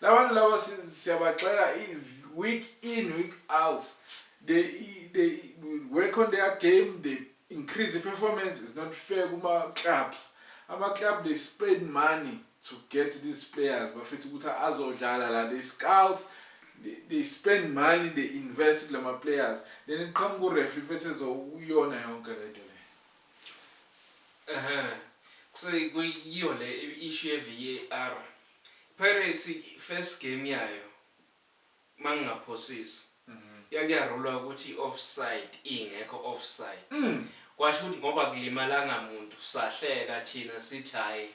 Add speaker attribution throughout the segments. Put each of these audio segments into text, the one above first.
Speaker 1: Labantu laba siyabagxeka week in week out they they work on their game they increase the performance is not fair kuma clubs ama club they spend money to get these players bafethu ukuthi azodlala la they scout they spend money they invest kulama players then iqhamuka ureferee fethu ezokuyona yonke lento le ehe
Speaker 2: kuseyiyo le issue ye VAR Pirates first game yayo mangingaphosisi yake yarulwa ukuthi i offside ingekho offside kwasho ukuthi ngoba kulimalanga muntu sahleka thina sithi hayi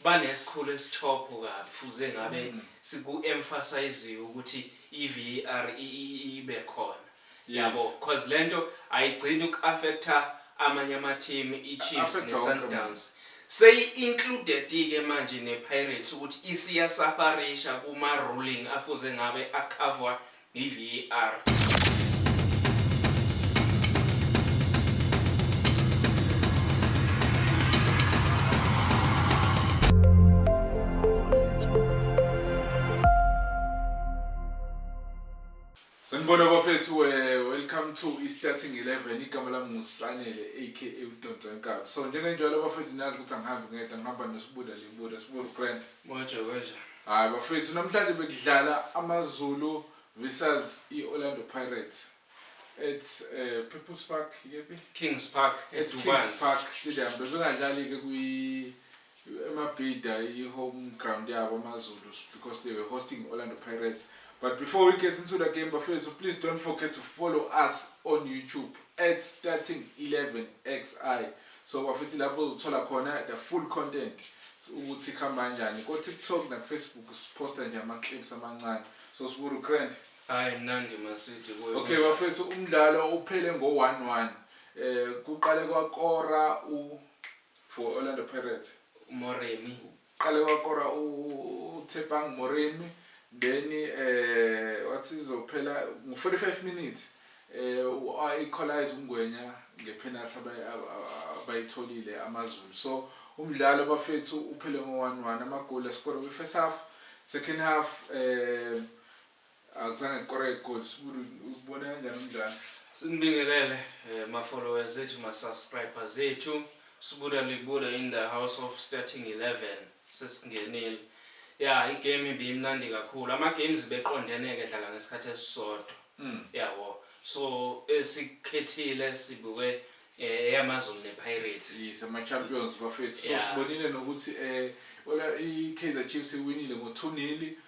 Speaker 2: banesikhulu esithopho kabi fuze ngabe siku emphasiziwe ukuthi i VAR ibe khona. yabo Yes. cause lento ayigcini uku affecta amanye ama team iChiefs Affecta ne wonke Sundowns seyi included ke manje ne Pirates ukuthi isiya safarisha kuma ruling afuze ngabe a cover yi VAR.
Speaker 1: Sanibona bafethu we welcome to iStarting 11 igama lami nguSanele aka uDonsa Nkabi so njengenjalo bafethu niyazi ukuthi angihambi ngedwa ngihamba noSibuda Libuda Sibuda Grand Moja Moja
Speaker 2: hayi bafethu
Speaker 1: namhlanje bekudlala AmaZulu versus iOrlando Pirates it's uh, eh, People's Park yephi Kings Park
Speaker 2: it's Kings Park
Speaker 1: Stadium bebengadlali ke kwi Emabhida i home ground yabo amazulu because they were hosting Orlando Pirates. But before we get into the game bafethu please don't forget to follow us on YouTube at starting 11 xi so bafethu lapho uzothola khona the full content ukuthi kuhamba kanjani ko-tiktok nakufacebook siphosta nje ama-clips amancane so siburu grand hayi mnandi
Speaker 2: masidi okay bafethu
Speaker 1: umdlalo uphele ngo-one one um kuqale kwakora u For Orlando Pirates. UMoremi.
Speaker 2: Uqale wakora
Speaker 1: uTshepang Moremi then eh wathi izophela ngo-45 minutes eh i-equalize uNgwenya ngepenalty abayi- ab- ab- abayitholile AmaZulu. So umdlalo bafethu uphele ngo-1-1 amagoli askore kwi-first half, second half eh Akuzange kukoreke igoli sibulu ubona kanjani umdlalo? Sinibingelele
Speaker 2: eh, ma followers ethu ma subscribers ethu. Sibula libula in the house of starting 11 sesingenile. Ya igame ibimnandi kakhulu. Ama games beqondene ke dlala ngesikhathi esisodwa. Mm. Yabo. So esikhethile sibuke eh, eyamazulu ne Pirates. Yes, ama champions
Speaker 1: bafethu. So yeah. sibonile nokuthi eh ola i Kaizer Chiefs iwinile ngo 2-0.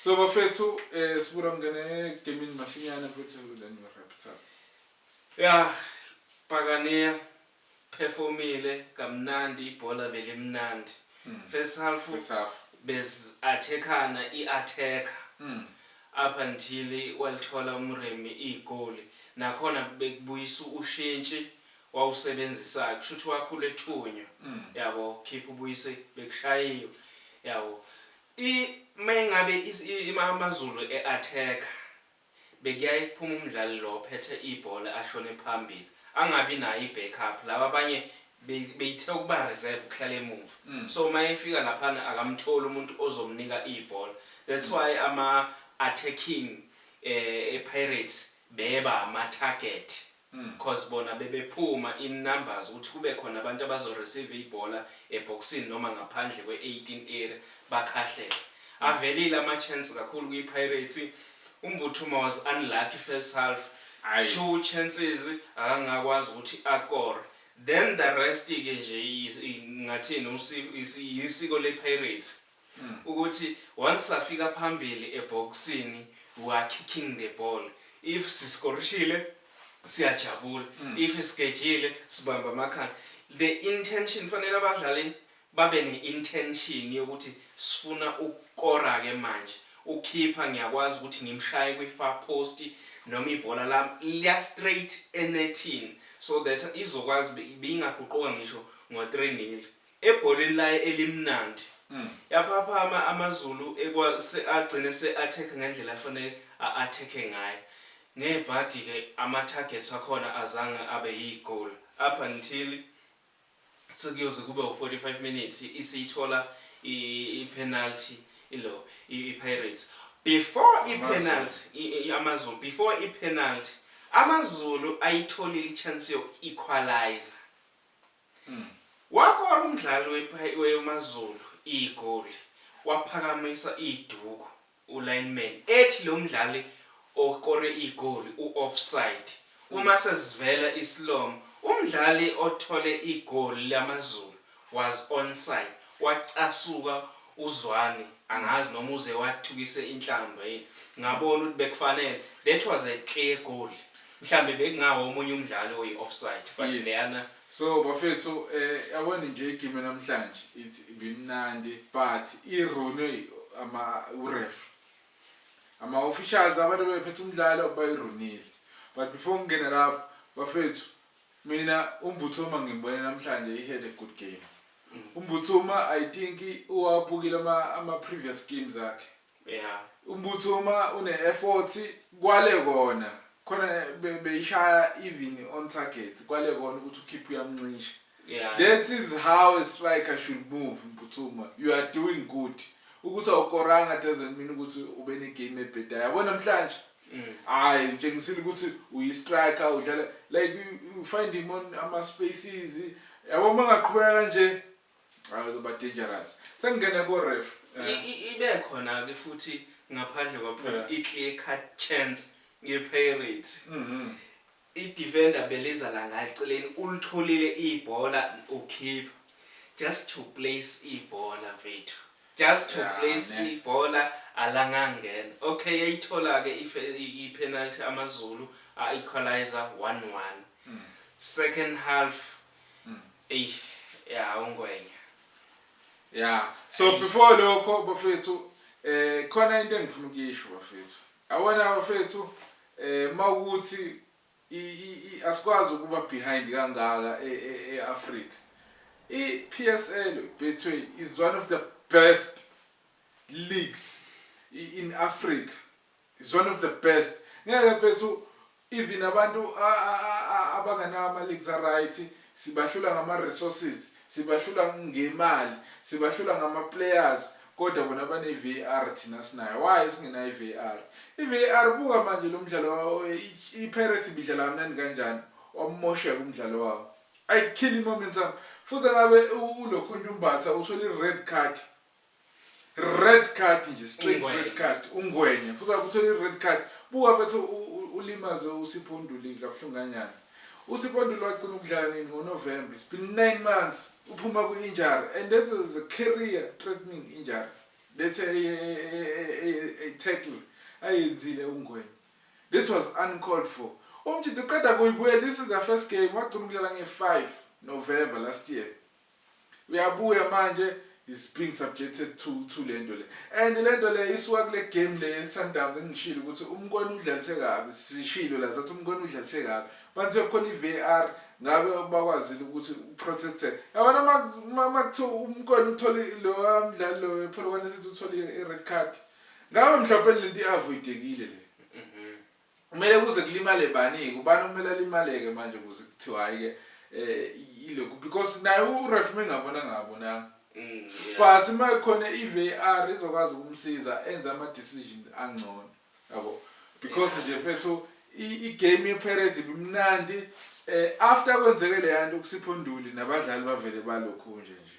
Speaker 1: So bafethu eh sibura ngene gaming masinyane futhi then we wrap it up. Yeah,
Speaker 2: Pagania performile kamnandi ibhola belimnandi. Mm. First half first half bez attackana i attacker. Mm. Up until walithola umremi igoli nakhona bekubuyisa ushintshi wawusebenzisayo kusho ukuthi wakhula ethunywa mm. yabo khipha ubuyise bekushayiwe yabo I mayingabe amazulu e attack bekuyaye kuphume umdlali lo ophethe ibhola ashone phambili angabi nayo i back up laba abanye beyithe ukuba reserve ukuhlala emumva so mayefika laphana akamtholi umuntu ozomnika ibhola that's why ama attacking e pirates beba ama target coz bona bebephuma in numbers ukuthi kube khona abantu abazo receive ibhola ebhokisini noma ngaphandle kwe 18 area bakhahlele. Avelile ama chance kakhulu kwi Pirates. UMbuthuma was unlucky first half, two chances akangakwazi ukuthi akore. Then the rest ke nje ngingathini yisiko le Pirates. ukuthi once safika phambili ebhokisini we are kicking the ball if siskorishile siyajabula mm. if sigejile sibamba amakhanda the intention fanele abadlali babe ne-intention yokuthi sifuna ukukora-ke manje ukhipha ngiyakwazi ukuthi ngimshaye kwi-far post noma ibhola lami liya-straight enethini so that izokwazi beyingaguquka ngisho ngo-three nil Ebholweni laye elimnandi. Yaphaphama AmaZulu ekwa se agcine se attack ngendlela afanele a attack ngayo. Ngebhadi ke ama targets akhona azange abe yi goal up until sekuyoze kube u 45 minutes isiyithola i penalty ilo i Pirates. Before i penalty i i AmaZulu before i penalty AmaZulu ayitholile i chance yoku equaliser. Wakora umdlali weMaZulu igoli waphakamisa iduku u-lineman ethi lo mdlali okore igoli u-offside. Uma sesivela isilomo, umdlali othole igoli laMaZulu was onside, wacasuka uZwane angazi noma uze wathukise inhlamba yini. Ngabona ukuthi bekufanele, that was a clear goal. Mhlambe bekungawo omunye umdlali oyi offside but Yes. leyana So bafethu
Speaker 1: eh yabona nje igame namhlanje it's bimnandi but i rune ama uref ama officials abantu bephethe umdlalo bayirunile but before ngingena lapho bafethu mina umbuthuma ngimbone namhlanje he had a good game umbuthuma i think uwabukile ama ama previous games akhe Yeah. Umbutho uma une effort kwale kona khona be- beyishaya even on target kwale kona ukuthi ukhiphe uyamncisha. Yeah. That is how a striker should move Mputhuma. You are doing good. Ukuthi awukoranga doesn't mean ukuthi ube ne game ebhedayo. Yabo namhlanje Mm. hayi utshengisile ukuthi uyi striker udlala like you, you find him on ama spaces. Yabo mangaqhubeka kanje Hayi uzoba dangerous. Sengingene ko ref. I, i, ibe
Speaker 2: khona ke futhi ngaphandle kwaphela Yeah. i clear cut chance ye Pirates. Mhm. I defender beliza la nga eceleni ulitholile ibhola ukhipha. Just to place ibhola mfethu. Just to Yeah, place ne. ibhola alangangena. Okay yayithola ke ife, i, i penalty AmaZulu a equaliser one one. Second half Mm. Ey, yeah, ungwenya.
Speaker 1: Yeah. So Ey. before lokho bafethu eh khona into engifuna ukuyisho bafethu. Awona bafethu eh mawukuthi asikwazi ukuba behind kangaka eAfrica. E, e, iPSL Betway is one of the best leagues in Africa. Is one of the best ngeke mfethu even abantu abanganawo ama leagues a right sibahlula ngama resources sibahlula ngemali sibahlula ngama players kodwa bona bane VAR thina sinayo why singenayo VAR i VAR buka manje lo mdlalo i Pirates bidlala kamnandi kanjani wamosheka umdlalo wawo I kill momentum futhi ngabe ulokhunjumbatha uthole i red card red card nje straight Ungwenya. red card ungwenya futhi akuthola i-red card buka bathi u- u- ulimaze usipho undulile kabuhlungu kanyana usipho undulile wagcina ukudlala nini ngonovemba it's been nine months uphuma kwi-injury and that was a career threatening injury that's a, a, a, a, a, a tackle ayenzile ungwenya this was uncalled for umjida uqeda kuyibuya this is the first game wagcina ukudlala nge-5 november last year Uyabuya manje is being subjected to to lento le and lento le isuka kule game le Sundowns engishilo ukuthi umkoni udlalise kabi sishilo la sathi umkoni udlalise kabi manje kukhona iVAR ngabe bakwazile ukuthi uprotect yabona uma kuthiwa umkoni uthole lo mdlali lo wePolokwane sithi uthole ired card ngabe mhlawumbe lento iavoidekile le Kumele kuze kulimale baningi ubani okumele alimaleke manje kuze kuthiwa hayi ke eh ilokhu because naye uref mengabona ngabona mm, yeah. but uma khona iVAR izokwazi ukumsiza enze ama decision angcono yabo because nje fethu igame yePirates ibimnandi eh after kwenzeke le yanto kuSipho Nduli nabadlali bavele balokhu nje nje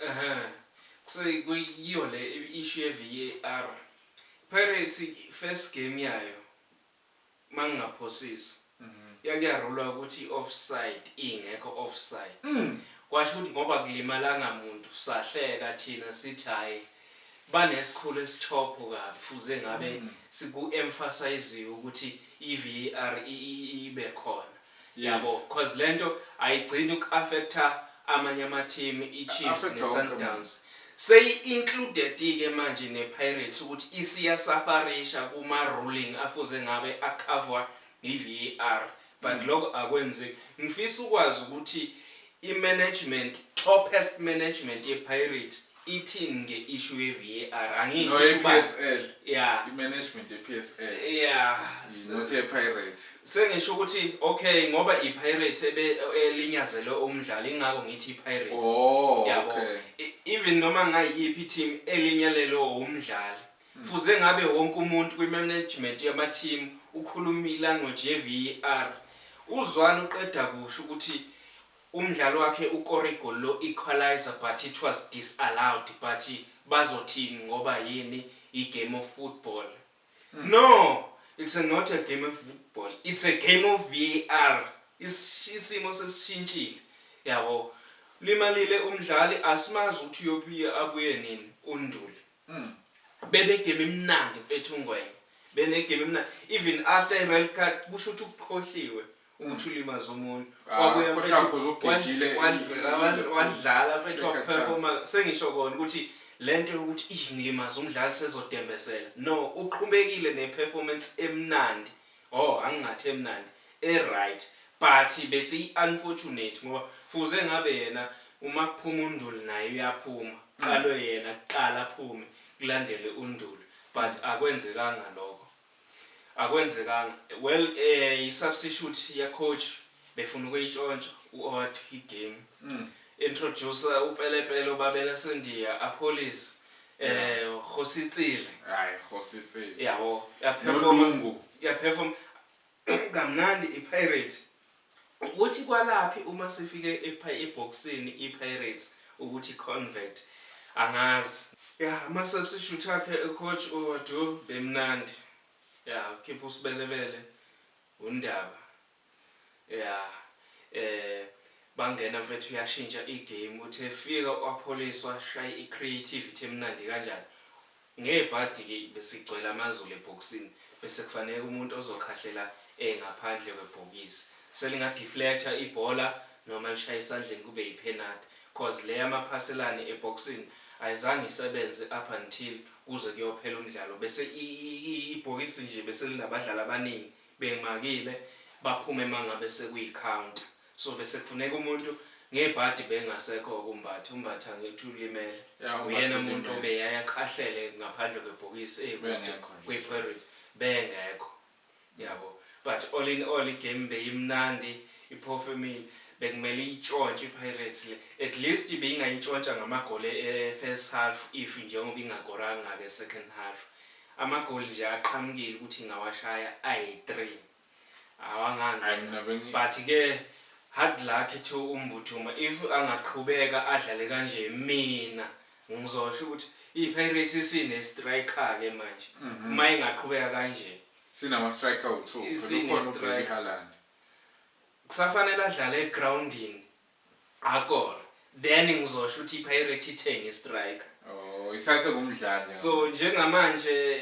Speaker 1: Ehhe.
Speaker 2: Kuse kuyiyo le issue ye VAR. Pirates first game yayo mangingaphosisi yake yarulwa ukuthi i offside ingekho offside. Kwasho ukuthi ngoba akulimalanga muntu sahleka thina sithi hhayi banesikhulu esithopho kabi fuze ngabe siku emphasiziwe ukuthi i VAR ibe khona. Yabo Yes. cause lento ayigcini uku affecta amanye ama team iChiefs Affecta ne wonke Sundowns. Seyi included ke manje ne Pirates ukuthi isiya safarisha kuma ruling afuze ngabe a cover yi VAR. But lokho akwenzeki. Ngifisa ukwazi ukuthi i management, toppest management ye Pirates Ithini nge issue ye VAR angisho No ukuthi ubani. yePSL.
Speaker 1: Yeah. I management yePSL. Yeah. Is
Speaker 2: not ye
Speaker 1: Pirates. Sengisho ukuthi
Speaker 2: okay ngoba i Pirates ebe elinyazele umdlali ingakho ngithi i Pirates. Oh Yabo. okay.
Speaker 1: E- Even
Speaker 2: noma ngayiphi i team elinyalelwe umdlali. Fuze ngabe wonke umuntu kwi management yama team ukhuluma i language ye VAR. UZwane uqeda kusho ukuthi Umdlali wakhe ukore igoli lo equaliser but it was disallowed but bazothini ngoba yini yi game of football no it's a not a game of football it's a game of VAR isimo sesishintshile yabo limalile umdlali asimazi ukuthi uyobuye abuye nini unduli benegame emnandi mfethu ungwenya benegame emnandi even after ired card kusho ukuthi ukukhohliwe ukuthi ulimaze omunye ah, wabuya wadlala mfethu waperforma sengisho kona ukuthi le nto yokuthi ish ngilimaze umdlali sezodembesela no uqhubekile ne-performance emnandi oh angingathi emnandi e-right but besiyi-unfortunate ngoba fuze ngabe yena uma kuphuma unduli naye uyaphuma qalwe yena kuqala aphume kulandele unduli but akwenzekanga lokho Akwenzekanga well eh i substitute ya coach befuna ukuyitshontsha u odd hi game introducer u Pelepele uBabela Sendiya apholise eh Kgosi Tsile Ay
Speaker 1: Kgosi Tsile yabo ya perform
Speaker 2: Nolungu ya perform kamnandi i Pirates Ukuthi kwalaphi uma sifike ebhokisini iPirates ukuthi convert angazi. Yah ama substitute akhe u coach uOdu bemnandi yah ukhipha uSbelebele uNdaba yah eh bangena mfethu yashintsha igame uthe fika uApholiswa shaye icreativity emnandi kanjani Ngebhadi ke besigcwele amazulu ebhokisini bese kufaneka umuntu ozokhahlela e ngaphandle kwebhokisi selinga deflector ibhola noma lishaya esandleni kube yiphenathi coz le yamaphaselane ebhokisini ayizange isebenze up until kuze kuyophela umdlalo bese ibhokisi nje beselinabadlali abaningi bengimakile baphume mangabe sekuyi counter So bese kufuneka umuntu ngebhadi bengasekho ukumbatha umbatha ngithi ulimele yeah, uyena umuntu obeyaye akhahlele ngaphandle kwebhokisi eyikude kwiPirates bengekho yabo but all in all igame beyimnandi iphofu emini bekumele itshontshe iPirates le at least beyingayitshontsha ngamagoli e-first half if njengoba ingagoranga-ke second half amagoli nje aqhamukile ukuthi ingawashaya ayi-three awangangena but ke hard luck to umbuthuma if angaqhubeka adlale kanje mina ngizosho ukuthi iPirates isine striker ke manje mhm. uma ingaqhubeka kanje sinama striker
Speaker 1: u2 kukhona uBheki Haaland
Speaker 2: kusafanele adlale egroundini Akor then ngizosho ukuthi iPirates ithenge istriker. Oh, isathe
Speaker 1: kumdlali. So njengamanje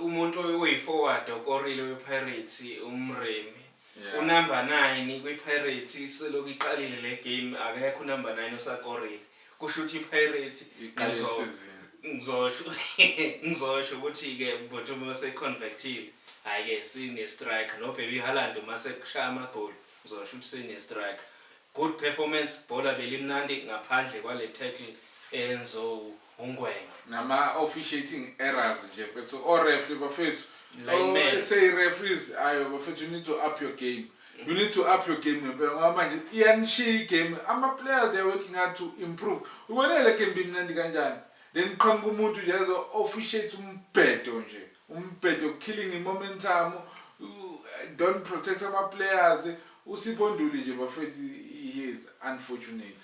Speaker 2: umuntu oyiforward okorile wePirates uMremi. Yeah. Unumber 9 kwiPirates iselokhu iqalile le game akekho unumber 9 osakorile. Kusho ukuthi iPirates iqale isizini. Ngizosho ngizosho ukuthi ke but uma seconvertile hayi ke sine striker no baby Haaland uma sekushaya amagoli Mzola shuthi sine strike. Good performance bhola belimnandi ngaphandle kwale tackle eyenzo uNgwenya. Nama
Speaker 1: officiating errors nje mfethu o referee bafethu. Lineman. Oh, say referees ayo bafethu you need to up your game. You need to up your game ngempela ngoba manje iyanishiya igame ama players they are working hard to improve ubonele game bimnandi kanjani then qhamuka umuntu nje ezo officiate umbhedo nje Umbhedo killing i momentum don't protect ama players uSipho Ntuli nje bafethu he is unfortunate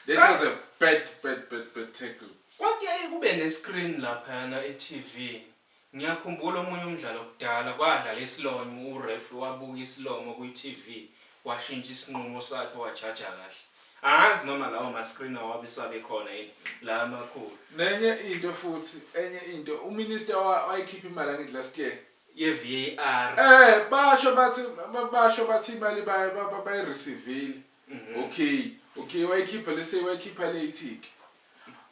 Speaker 1: that Sa was a bad bad bad
Speaker 2: bad tackle.
Speaker 1: Kwakuyaye
Speaker 2: kube ne screen laphayana
Speaker 1: e
Speaker 2: TV ngiyakhumbula omunye umdlalo kudala kwadlala isilonyo u referee wabuka isilomo kwi TV washintsha isinqumo sakhe wajaja kahle Angazi noma lawo ma screen awabe sabekhona yini la amakhulu. Nenye into futhi
Speaker 1: enye into u minister wayikhipha imali angithi last year ye VAR.
Speaker 2: Eh basho
Speaker 1: bathi basho bathi imali baye bayi receivile. Mhm. Okay. Okay wayikhipha lese wayikhipha late ke.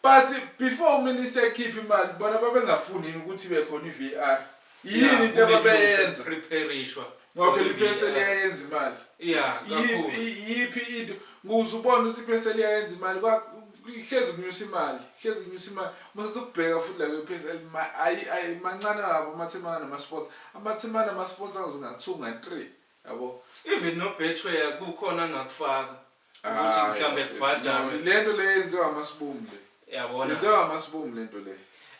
Speaker 1: But before uminister ekhipha imali bona babengafuni yini ukuthi ibe khona iVAR? Yini into ababeyenza? Preparishwa.
Speaker 2: Okay liphese
Speaker 1: liyayenza imali.
Speaker 2: Yeah, kakhulu. Yiphi
Speaker 1: into? Nguze ubona ukuthi iphese liyayenza imali kuhlezi kunyusa imali hlezi kunyusa imali mase ukubheka futhi la kwePSL ayi ayi mancane kabi amathimana nama-sports amathimana nama-sports angathunga three yabo even nobetway
Speaker 2: kukhona angakufaka ukuthi Hayi, mhlambe bafethu, kubhadalwe. no, lento le yenziwa
Speaker 1: amasiboom le Yabona? yenziwa amasiboom
Speaker 2: lento
Speaker 1: le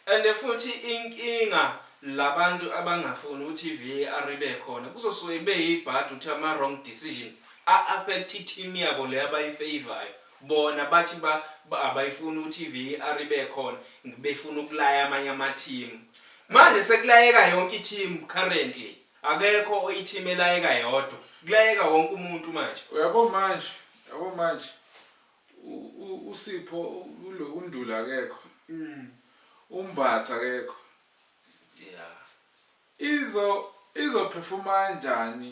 Speaker 1: And futhi
Speaker 2: inkinga labantu abangafuni ukuthi iVAR ibe khona kuzosuke kube yibhadi ukuthi ama wrong decision a affect iteam yabo le abayifavorayo bona bathi ba ba- abayifuni ukuthi iVAR ibe khona ng- befuna ukulaya amanye ama team manje sekulayeka yonke iteam currently Akekho oyi team elayeka yodwa. Kulayeka wonke umuntu manje. Uyabo manje
Speaker 1: yabo manje uSipho ulo uNduli akekho uMbatha akekho izo izo performa kanjani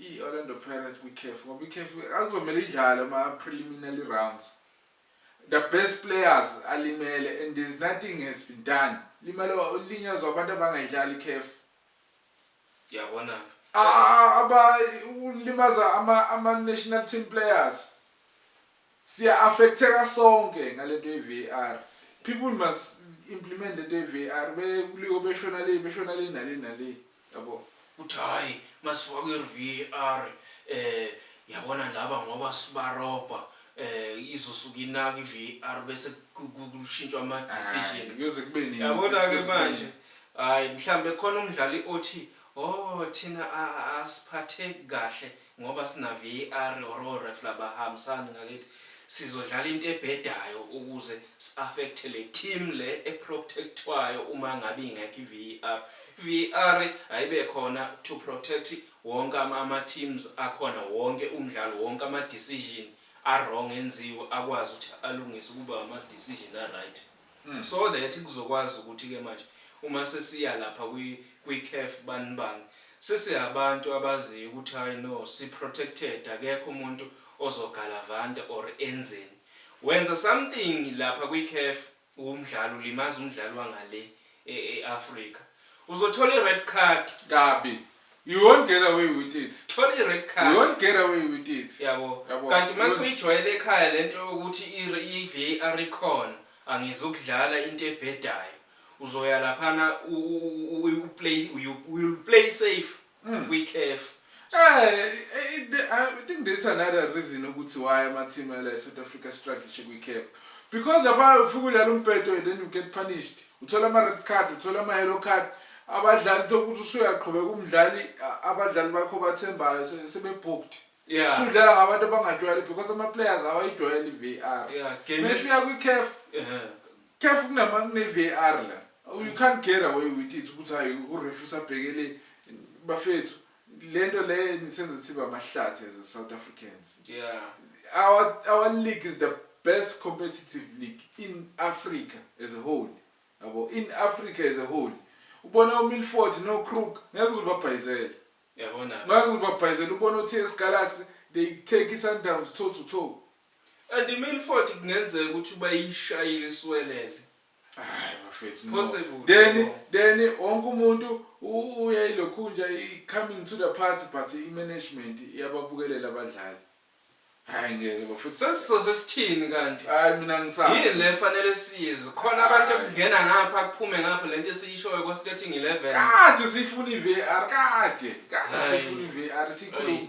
Speaker 1: i Orlando Pirates kwi CAF ngoba i CAF akuzomele idlale ama preliminary rounds the best players alimele and there's nothing has been done limele ulinyazwa abantu abangayidlali i CAF
Speaker 2: Yabona ke. Aba
Speaker 1: ulimaza ama ama national team players. Siya affecteka sonke ngalento ye VAR. People must implement lento ye VAR be kuliwe beshona le beshona le nale nale. Yabo. Uthi hayi
Speaker 2: masifakwe VAR eh yabona laba ngoba sibarobha eh izosuka inaka iVAR bese kushintshwa ama decision. Kuyoze kube nini. Yabona
Speaker 1: ke manje
Speaker 2: Ay mhlambe khona umdlali othi oh thina asiphatheki kahle ngoba sina VAR or o ref laba hambisani ngakithi sizodlala into ebhedayo ukuze si affect le team le e protectwayo uma ngabe ingekho i VAR. VAR ayibe khona to protect wonke ama teams akhona wonke umdlalo wonke ama decision a wrong enziwe akwazi ukuthi alungise kube ama decision a right. So that kuzokwazi ukuthi ke manje uma sesiya lapha kwi kwi caf bani bani sesihabantu abaziyo ukuthi hayi no si protected akekho umuntu ozogalavanta or enzeni. Wenza something lapha kwi caf wumdlali ulimaza umdlali wangale e-Africa. Uzothola i-red card. Kabi.
Speaker 1: You won't get away with it. Thola i-red card. You won't
Speaker 2: get away with
Speaker 1: it. Yabo. Yabo. Kanti uma
Speaker 2: suyijwayele ekhaya le nto yokuthi i-VAR ikhona, angizukudlala into ebhedayo. Uzoya laphana u-play, you will play safe. mm. kwikhefu Eh, it,
Speaker 1: I think that's another reason ukuthi why ama-team ala e-south africa strategy kwi-cap because lapha ufike ulala umbhedo and then you get punished uthola ama-red card uthola ama-yellow card abadlali tokuthi usuyaqhubeka umdlali abadlali bakho bathembayo sebebhooked yeah. sudlala ngabantu abangajwayeli because ama-players awayijwayeli i-v r yeah, mesiya kwi-caf uh -huh. Careful kunama kune VAR la. You can't get away with it ukuthi hayi urefu usabheke le bafethu lento le nisenza siba amahlathi as a South Africans. Yeah. Our our league is the best competitive league in Africa as a whole. Yabo in Africa as a whole. Ubona uMilford no Crook ngeke uzobabhayizela. Yabona.
Speaker 2: Ngeke uzobabhayizela
Speaker 1: ubona uTS Galaxy they take iSundowns toe to toe. And
Speaker 2: iMilford kungenzeka ukuthi ubayishayile isiwelele. Hayi
Speaker 1: bafethu no. Possible. Then
Speaker 2: then
Speaker 1: wonke umuntu u- uya ilokhunja i- coming to the party but i-management iyababukelela abadlali. Hayi ngeke bafethu. Sesizoze sithini
Speaker 2: kanti? Hayi mina Yini ngisazi.
Speaker 1: le fanele
Speaker 2: siyizwe? Khona abantu Hayi. okungena ngapha kuphume ngapha lento esiyishoyo kwa starting 11. Kade siyifuna
Speaker 1: i-VAR kade. Kade Hayi. siyifuna i-VAR sikhuluma. Hayi.